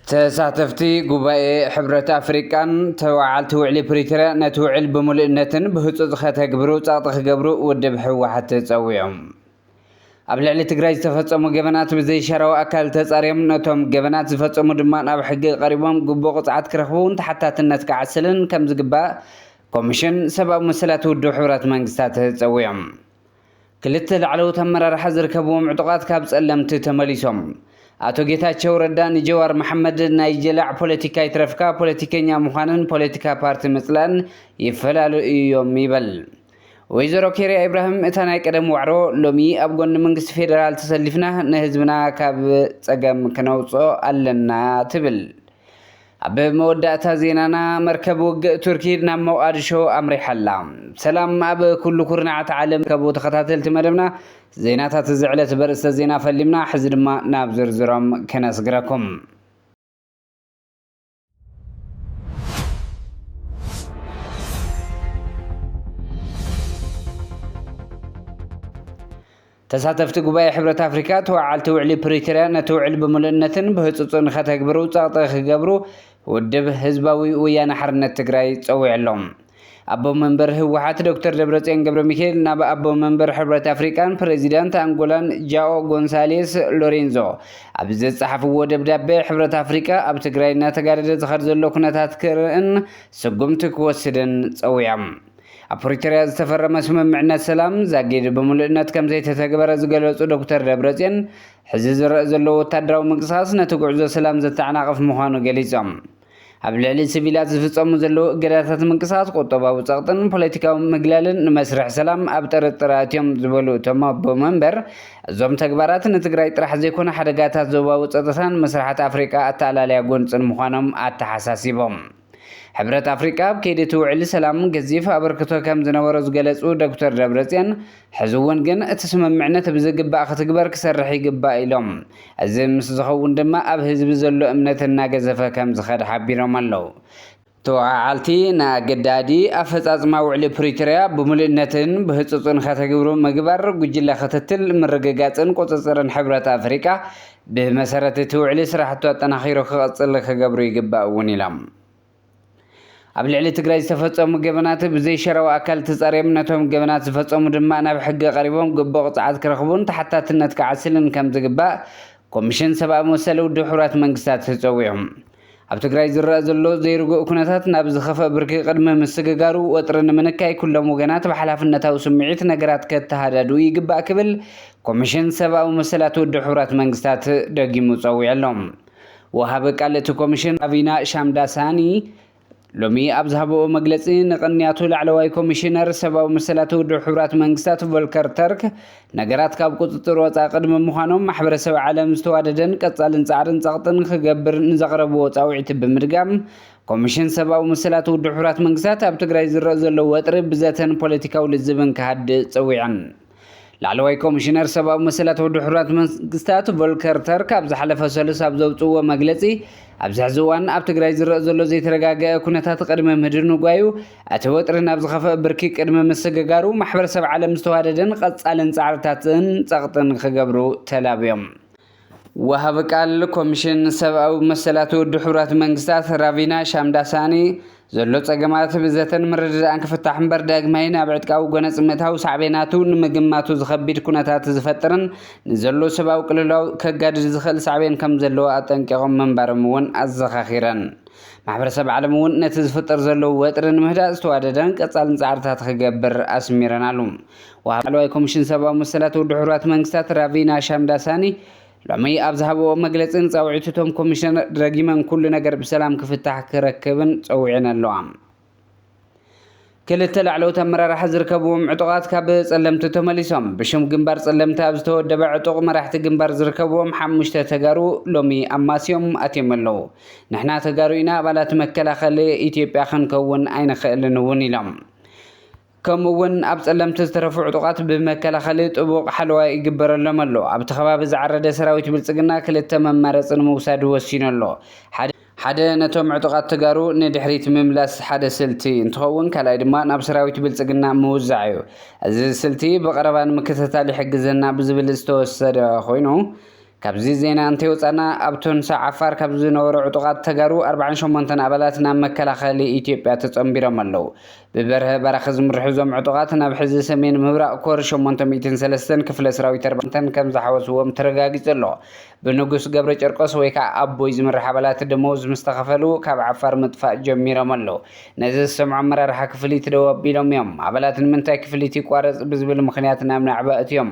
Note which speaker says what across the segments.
Speaker 1: ተሳተፍቲ ጉባኤ ሕብረት ኣፍሪቃን ተወዓልቲ ውዕሊ ፕሪቶርያ ነቲ ውዕል ብምሉእነትን ብህፁፅ ከተግብሩ ፀቕጢ ክገብሩ ውድብ ህወሓት ተፀዊዖም ኣብ ልዕሊ ትግራይ ዝተፈጸሙ ገበናት ብዘይሻራዊ ኣካል ተጻርዮም ነቶም ገበናት ዝፈጸሙ ድማ ናብ ሕጊ ቀሪቦም ግቡእ ቅፅዓት ክረኽቡን ተሓታትነት ክዓስልን ከም ዝግባእ ኮሚሽን ሰብኣዊ መሰላት ውድብ ሕቡራት መንግስታት ጸዊዖም። ክልተ ላዕለዎት ኣመራርሓ ዝርከብዎም ዕጡቓት ካብ ጸለምቲ ተመሊሶም። ኣቶ ጌታቸው ረዳ ንጀዋር መሓመድ ናይ ጀላዕ ፖለቲካ ይትረፍካ ፖለቲከኛ ምዃንን ፖለቲካ ፓርቲ ምጽላእን ይፈላለዩ እዮም ይበል። ወይዘሮ ኬርያ ኢብራሂም እታ ናይ ቀደም ዋዕሮ ሎሚ ኣብ ጎኒ መንግስቲ ፌደራል ተሰሊፍና ንህዝብና ካብ ፀገም ክነውፅኦ ኣለና ትብል። ኣብ መወዳእታ ዜናና መርከብ ውግእ ቱርኪ ናብ ሞቃድሾ ኣምሪሓ ኣላ። ሰላም ኣብ ኩሉ ኩርናዓት ዓለም ከቡ ተኸታተልቲ መደብና ዜናታት እዚ ዕለት በርእስተ ዜና ፈሊምና ሕዚ ድማ ናብ ዝርዝሮም ክነስግረኩም። ተሳተፍቲ ጉባኤ ሕብረት ኣፍሪካ ተወዓልቲ ውዕሊ ፕሪቶርያ ነቲ ውዕሊ ብምሉእነትን ብህፁፅን ከተግብሩ ፀቕጢ ክገብሩ ውድብ ህዝባዊ ወያነ ሓርነት ትግራይ ፀዊዑ ኣሎ። ኣቦ መንበር ህወሓት ዶክተር ደብረጽዮን ገብረ ሚካኤል ናብ ኣቦ መንበር ሕብረት ኣፍሪቃን ፕሬዚዳንት ኣንጎላን ጃኦ ጎንሳሌስ ሎሬንዞ ኣብ ዘጸሓፍዎ ደብዳቤ ሕብረት ኣፍሪቃ ኣብ ትግራይ እናተጋደደ ዝኸድ ዘሎ ኩነታት ክርእን ስጉምቲ ክወስድን ጸዊዖም። ኣብ ፕሪቶርያ ዝተፈረመ ስምምዕነት ሰላም ዛጊድ ብምሉእነት ከም ዘይተተግበረ ዝገለጹ ዶክተር ደብረጽዮን ሕዚ ዝረአ ዘሎ ወታደራዊ ምንቅስቓስ ነቲ ጉዕዞ ሰላም ዘተዓናቕፍ ምዃኑ ገሊጾም። ኣብ ልዕሊ ስቪላት ዝፍጸሙ ዘለዉ እገዳታት ምንቅስቓስ ቁጠባዊ ጸቕጥን ፖለቲካዊ ምግላልን ንመስርሕ ሰላም ኣብ ጥርጥር ኣእትዮም ዝበሉ እቶም ኣቦ መንበር፣ እዞም ተግባራት ንትግራይ ጥራሕ ዘይኮነ ሓደጋታት ዞባዊ ጸጥታን መስርሓት ኣፍሪቃ ኣተኣላልያ ጎንጽን ምዃኖም ኣተሓሳሲቦም። ሕብረት ኣፍሪቃ ኣብ ከይዲ እቲ ውዕሊ ሰላም ገዚፍ ኣበርክቶ ከምዝነበሮ ዝገለፁ ዶክተር ደብረፅዮን፣ ሕዚ እውን ግን እቲ ስምምዕነት ብዝግባእ ክትግበር ክሰርሕ ይግባእ ኢሎም። እዚ ምስ ዝኸውን ድማ ኣብ ህዝቢ ዘሎ እምነት እናገዘፈ ከምዝኸድ ሓቢሮም ኣለው። ተወዓዓልቲ ንኣገዳዲ ኣፈፃፅማ ውዕሊ ፕሪቶሪያ ብሙሉእነትን ብህፁፅን ከተግብሩ ምግባር፣ ጉጅለ ክትትል፣ ምርግጋፅን ቁፅፅርን ሕብረት ኣፍሪካ ብመሰረት እቲ ውዕሊ ስራሕቱ ኣጠናኺሩ ክቕፅል ክገብሩ ይግባእ እውን ኢሎም። ኣብ ልዕሊ ትግራይ ዝተፈፀሙ ገበናት ብዘይ ሸራዊ ኣካል ተፃርዮም ነቶም ገበናት ዝፈፀሙ ድማ ናብ ሕጊ ቀሪቦም ግቡእ ቅፅዓት ክረኽቡን ተሓታትነት ክዓስልን ከም ዝግባእ ኮሚሽን ሰብኣዊ መሰል ውድብ ሕቡራት መንግስታት ተፀዊዑ። ኣብ ትግራይ ዝረኣ ዘሎ ዘይርጉእ ኩነታት ናብ ዝኸፍኣ ብርኪ ቅድሚ ምስግጋሩ ወጥሪ ንምንካይ ኩሎም ወገናት ብሓላፍነታዊ ስምዒት ነገራት ከተሃዳድኡ ይግባእ ክብል ኮሚሽን ሰብኣዊ መሰላት ውድብ ሕቡራት መንግስታት ደጊሙ ፀዊዑ ኣሎ። ወሃቢ ቃል እቲ ኮሚሽን ራቪና ሻምዳሳኒ ሎሚ ኣብ ዝሃበኦ መግለጺ ንቕንያቱ ላዕለዋይ ኮሚሽነር ሰብኣዊ መሰላት ውድብ ሕቡራት መንግስታት ቮልከር ተርክ ነገራት ካብ ቁጽጽር ወጻኢ ቅድሚ ምዃኖም ማሕበረሰብ ዓለም ዝተዋደደን ቀጻልን ጻዕርን ጸቕጥን ክገብር ንዘቕረብዎ ጻውዒት ብምድጋም ኮሚሽን ሰብኣዊ መሰላት ውድብ ሕቡራት መንግስታት ኣብ ትግራይ ዝረእ ዘሎ ወጥሪ ብዘተን ፖለቲካዊ ልዝብን ክሃድእ ጸዊዐን። ላዕለዋይ ኮሚሽነር ሰብኣዊ መሰላት ውድብ ሕቡራት መንግስታት ቮልከር ተርክ ኣብ ዝሓለፈ ሰሉስ ኣብ ዘውፅእዎ መግለፂ ኣብዚ ሕዚ እዋን ኣብ ትግራይ ዝረአ ዘሎ ዘይተረጋገአ ኩነታት ቅድሚ ምህድንጓዩ እቲ ወጥሪ ናብ ዝኸፍአ ብርኪ ቅድሚ ምስግጋሩ ማሕበረሰብ ዓለም ዝተዋደደን ቐፃልን ፃዕርታትን ፀቕጥን ክገብሩ ተላብዮም። ወሃቢ ቃል ኮሚሽን ሰብኣዊ መሰላት ውድብ ሕቡራት መንግስታት ራቪና ሻምዳሳኒ ዘሎ ጸገማት ብዘተን ምርድዳእን ክፍታሕ እምበር ዳግማይ ናብ ዕጥቃዊ ጎነጽ ምእታው ሳዕቤናቱ ንምግማቱ ዝኸቢድ ኩነታት ዝፈጥርን ንዘሎ ሰብኣዊ ቅልውላው ከጋድድ ዝኽእል ሳዕቤን ከም ዘለዎ ኣጠንቂቖም ምንባሮም እውን ኣዘኻኺረን። ማሕበረሰብ ዓለም እውን ነቲ ዝፍጠር ዘሎ ወጥሪ ንምህዳእ ዝተዋደደን ቀጻልን ጻዕርታት ክገብር ኣስሚረናሉ። ወሃቢ ቃል ላዕለዋይ ኮሚሽን ሰብኣዊ መሰላት ውድብ ሕቡራት መንግስታት ራቪና ሻምዳሳኒ ሎሚ ኣብ ዝሃብዎ መግለፂ ንፃውዒት እቶም ኮሚሽነር ረጊመን ኩሉ ነገር ብሰላም ክፍታሕ ክረክብን ፀዊዐን ኣለዋ። ክልተ ላዕለዎት ኣመራርሓ ዝርከብዎም ዕጡቓት ካብ ፀለምቲ ተመሊሶም። ብሽም ግንባር ፀለምቲ ኣብ ዝተወደበ ዕጡቕ መራሕቲ ግንባር ዝርከብዎም ሓሙሽተ ተጋሩ ሎሚ ኣማስዮም ኣትዮም ኣለዉ። ንሕና ተጋሩ ኢና፣ ኣባላት መከላኸሊ ኢትዮጵያ ክንከውን ኣይንኽእልን እውን ኢሎም። ከምኡ እውን ኣብ ፀለምቲ ዝተረፉ ዕጡቓት ብመከላኸሊ ጥቡቕ ሓለዋ ይግበረሎም ኣሎ። ኣብቲ ከባቢ ዝዓረደ ሰራዊት ብልፅግና ክልተ መማረፂ ንምውሳድ ወሲኑ ኣሎ። ሓደ ነቶም ዕጡቓት ተጋሩ ንድሕሪት ምምላስ ሓደ ስልቲ እንትኸውን ካልኣይ ድማ ናብ ሰራዊት ብልፅግና ምውዛዕ እዩ። እዚ ስልቲ ብቐረባ ንምክትታል ይሕግዘና ብዝብል ዝተወሰደ ኮይኑ ካብዚ ዜና እንተይወፃእና ኣብ ቶንሳ ዓፋር ካብ ዝነበሩ ዕጡቓት ተጋሩ ኣርብዓን ሸሞንተን ኣባላት ናብ መከላኸሊ ኢትዮጵያ ተፀምቢሮም ኣለው። ብበርሀ በራኺ ዝምርሑ እዞም ዕጡቓት ናብ ሕዚ ሰሜን ምብራቕ ኮር ሸሞንተ ሚእትን ሰለስተን ክፍለ ሰራዊት ኣርባዕተን ከምዝሓወስዎም ተረጋጊፁ ኣሎ። ብንጉስ ገብረጨርቆስ ወይ ከዓ ኣቦይ ዝምራሕ ኣባላት ደመወዝ ምስተኸፈሉ ካብ ዓፋር ምጥፋእ ጀሚሮም ኣለው። ነዚ ዝሰምዑ ኣመራርሓ ክፍሊት ደው ኣቢሎም እዮም። ኣባላት ንምንታይ ክፍሊት ይቋረፅ ብዝብል ምኽንያት ናብ ናዕቢ ኣእትዮም።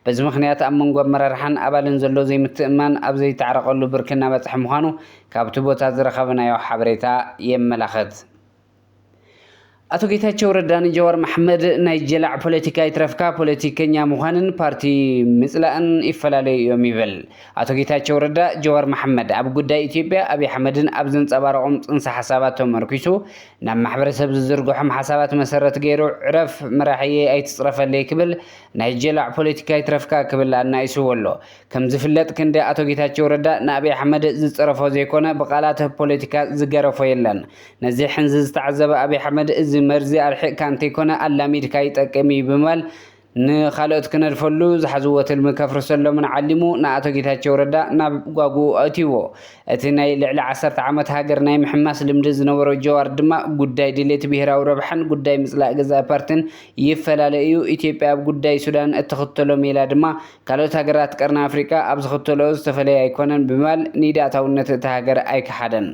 Speaker 1: በዚ ምኽንያት ኣብ መንጎ ኣመራርሓን ኣባልን ዘሎ ዘይምትእምማን ኣብ ዘይተዓረቐሉ ብርኪ እናበፅሐ ምዃኑ ካብቲ ቦታ ዝረኸብናዮ ሓበሬታ የመላኽት። ኣቶ ጌታቸው ረዳ ንጀዋር መሓመድ ናይ ጀላዕ ፖለቲካ ይትረፍካ ፖለቲከኛ ምዃንን ፓርቲ ምፅላእን ይፈላለዩ እዮም ይብል። ኣቶ ጌታቸው ረዳ ጀዋር መሓመድ ኣብ ጉዳይ ኢትዮጵያ ኣብይ ኣሕመድን ኣብ ዘንፀባረቖም ፅንሰ ሓሳባት ተመርኲሱ ናብ ማሕበረሰብ ዝዝርግሖም ሓሳባት መሰረት ገይሩ ዕረፍ መራሒየይ ኣይትፅረፈለይ ክብል ናይ ጀላዕ ፖለቲካ ይትረፍካ ክብል ኣናኢስዎ ኣሎ። ከም ዝፍለጥ ክንዲ ኣቶ ጌታቸው ረዳ ንኣብይ ኣሕመድ ዝጸረፎ ዘይኮነ ብቃላት ፖለቲካ ዝገረፎ የለን። ነዚ ሕንዚ ዝተዓዘበ ኣብይ ኣሕመድ እዚ መርዚ ኣርሒቅካ እንተይኮነ ኣላሚድካ ይጠቅም እዩ ብምባል ንኻልኦት ክነድፈሉ ዝሓዝዎ ትልሚ ከፍርሰሎምን ዓሊሙ ንኣቶ ጌታቸው ረዳ ናብ ጓጉኡ ኣእትይዎ። እቲ ናይ ልዕሊ ዓሰርተ ዓመት ሃገር ናይ ምሕማስ ልምዲ ዝነበሮ ጀዋር ድማ ጉዳይ ድሌት ብሄራዊ ረብሓን ጉዳይ ምጽላእ ገዛኢ ፓርቲን ይፈላለ እዩ። ኢትዮጵያ ኣብ ጉዳይ ሱዳን እትኽተሎ ሜላ ድማ ካልኦት ሃገራት ቀርኒ ኣፍሪቃ ኣብ ዝኽተልኦ ዝተፈለየ ኣይኮነን ብምባል ንኢድ ኣእታውነት እታ ሃገር ኣይከሓደን።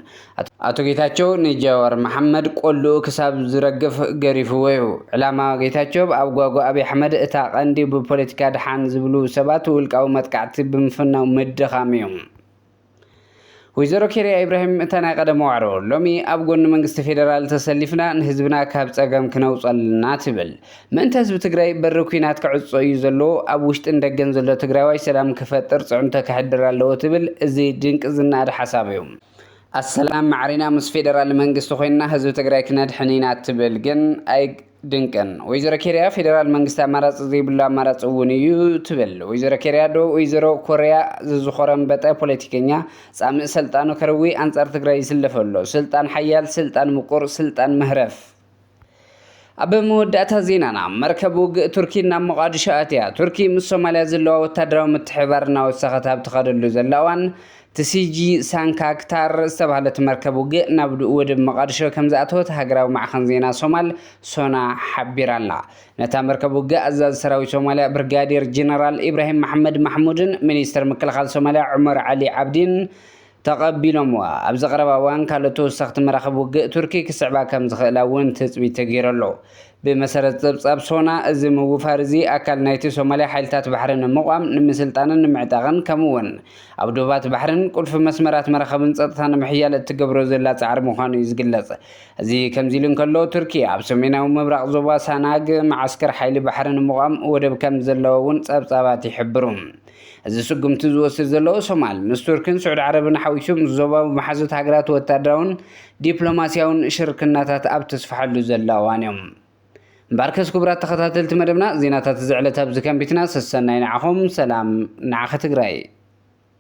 Speaker 1: ኣቶ ጌታቸው ንጃዋር መሓመድ ቆልኡ ክሳብ ዝረግፍ ገሪፍዎ እዩ። ዕላማ ጌታቸብ ኣብ ጓጓ ኣብይ ኣሕመድ እታ ቀንዲ ብፖለቲካ ድሓን ዝብሉ ሰባት ውልቃዊ መጥቃዕቲ ብምፍናው ምድኻም እዩ። ወይዘሮ ኬርያ ኢብራሂም እታ ናይ ቀደም ዋዕሮ ሎሚ ኣብ ጎኒ መንግስቲ ፌደራል ተሰሊፍና ንህዝብና ካብ ፀገም ክነውፅ ኣለና ትብል። ምእንተ ህዝቢ ትግራይ በሪ ኩናት ክዕፆ እዩ ዘለዎ፣ ኣብ ውሽጥን ደገን ዘሎ ትግራዋይ ሰላም ክፈጥር ፅዕንቶ ከሕድር ኣለዎ ትብል፣ እዚ ድንቂ ዝነኣድ ሓሳብ እዩ። ኣሰላም ማዕሪና ምስ ፌደራል መንግስቲ ኮይንና ህዝቢ ትግራይ ክነድሕን ኢና ትብል። ግን ድንቅን። ወይዘሮ ኬርያ ፌዴራል መንግስቲ ኣማራፂ ዘይብሉ ኣማራፂ እውን እዩ ትብል ወይዘሮ ኬርያ ዶ ወይዘሮ ኮርያ ዝዝኾረምበጠ ፖለቲከኛ ፃምእ ሰልጣኑ ከርዊ ኣንፃር ትግራይ ይስለፍ ኣሎ ስልጣን ሓያል ስልጣን ምቁር ስልጣን መህረፍ ኣብ መወዳእታ ዜናና መርከብ ውግእ ቱርኪ ናብ ሞቓድሾ ኣትያ ቱርኪ ምስ ሶማልያ ዘለዋ ወታደራዊ ምትሕብባር እናወሰኸት ኣብ ትኸደሉ ዘላ እዋን ትሲጂ ሳንካ ክታር ዝተባህለት መርከብ ውግእ ናብ ወደብ መቓድሾ ከምዝኣተወት ሃገራዊ ማዕኸን ዜና ሶማል፣ ሶና፣ ሓቢራ'ላ። ነታ መርከብ ውግእ ኣዛዚ ሰራዊት ሶማልያ ብርጋዴር ጀነራል ኢብራሂም መሓመድ ማሕሙድን ሚኒስተር ምክልኻል ሶማልያ ዑመር ዓሊ ዓብዲን ተቐቢሎምዋ። ኣብዚ ቀረባ እዋን ካልኦት ተወሰኽቲ መራኽብ ውግእ ቱርኪ ክስዕባ ከምዝኽእላ'ውን ትጽቢት ተገይሩ ኣሎ። ብመሰረት ጸብጻብ ሶና፣ እዚ ምውፋር እዚ ኣካል ናይቲ ሶማልያ ሓይልታት ባሕሪ ንምቛም፣ ንምስልጣንን ንምዕጣቕን፣ ከምኡ'ውን ኣብ ዶባት ባሕርን ቁልፊ መስመራት መራኸብን ጸጥታ ንምሕያል እትገብሮ ዘላ ጻዕሪ ምዃኑ እዩ ዝግለጽ። እዚ ከምዚ ኢሉ እንከሎ፣ ቱርኪ ኣብ ሰሜናዊ ምብራቕ ዞባ ሳናግ መዓስከር ሓይሊ ባሕሪ ንምቛም ወደብ ከም ዘለዋ'ውን ጸብጻባት ይሕብሩ። እዚ ስጉምቲ ዝወስድ ዘሎ ሶማል፣ ምስ ቱርክን ስዑድ ዓረብን ሓዊሱ ምስ ዞባዊ መሓዙት ሃገራት ወታደራውን ዲፕሎማሲያውን ሽርክናታት ኣብ ተስፍሐሉ ዘላ እዋን እዩ። እምበኣርከስ ክቡራት ተኸታተልቲ መደብና ዜናታት እዚ ዕለት ኣብዚ ከንቢትና ሰሰናዩ ንዓኹም ሰላም ንዓኺ ትግራይ።